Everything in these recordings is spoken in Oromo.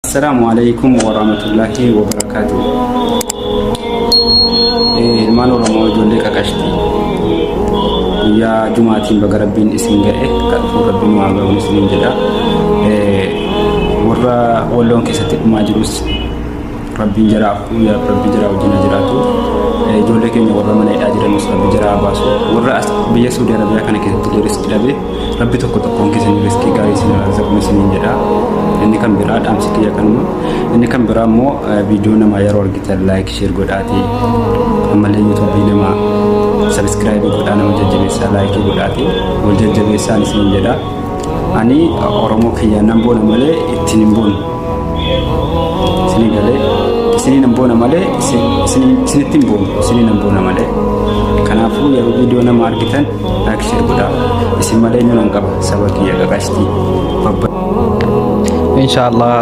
Assalaamu alaikum warahmatullahi wabarakatuh. Eh, Ilmaan Oromoo ijoollee qaqashti. Guyyaa Jumaatiin baga Rabbiin isin ga'e kan dhufu Rabbiin waa ga'uun isiniin jedha. Eh, Warra walloon keessatti dhumaa jirus Rabbiin jaraa afuu yaa Rabbi jaraa wajjin haa jiraatu. Eh, Ijoollee keenya warra mana hidhaa jiranus Rabbi jaraa haa baasu. Warra as biyya Saudi Arabiyaa kana keessatti deeris dhabe Rabbi tokko tokkoon keessan riskii gaarii isin raazaquu isiniin jedha. Inni kan biraa dhaamsi kiyya kanuma. Inni kan biraa immoo viidiyoo namaa yeroo argitan laayik sheer godhaati. Ammallee yuutuubii namaa sabiskiraayibii godhaa nama jajjabeessaa laayikii godhaati. Wal jajjabeessaan isiniin jedha. Ani Oromoo kiyya nan boona malee ittiin hin boonu. Isinii galee isinii nan boona malee isinitti hin boonu. Isinii nan boona malee. Kanaafuu yeroo viidiyoo nama argitan Laak sheer godhaa isin malee eenyuun an qaba saba kiyya qaqashtii babba. Inshaallah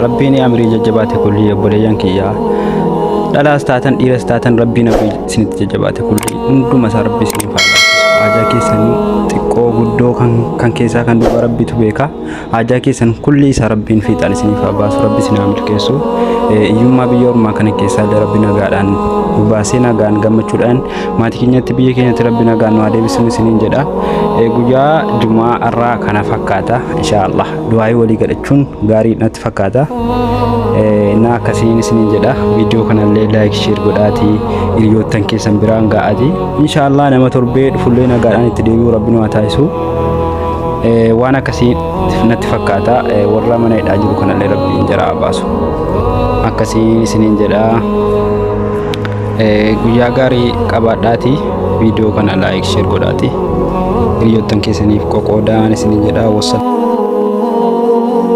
rabbiin amirii jajjabaate kulli obboleeyyan kiyya dhalaas taatan dhiiras taatan rabbiin amirii isinitti jajjabaate kulli hunduma isaa rabbi isiniif haa laaffisu. Haajaa keessanii xiqqoo guddoo kan keessaa kan duuba rabbitu beeka. Haajaa keessan kulli isaa rabbiin fiixaan isiniif haa baasu rabbi isin haa milkeessu Eh, hiyyummaa biyya ormaa kana keessaa illee rabbi nagaadhaan nu baasee nagaan gammachuudhaan maatii keenyatti biyya keenyatti rabbi nagaan nu haa deebisinu isiniin jedha Eh, guyyaa jumaa irraa kana fakkaata inshaallah du'aayii walii godhachuun gaarii natti fakkaata Eh, na akkasiin isiniin jedha viidiyoo kanallee laayik sheer godhaatii hiriyoottan keessan biraan ga'aatii inshaallah nama torbee dhufullee nagaadhaan itti deebi'u rabbi nu haa taasisu Eh, waan akkasii natti fakkaata Eh, warra mana hidhaa jiru kanallee rabbiin jara haa baasu akkasii isiniin jedha Eh, guyyaa gaarii qabaadhaati viidiyoo kana laayik sheer godhaati hiriyoottan keessaniif qoqoodaa isiniin jedha wassalaamu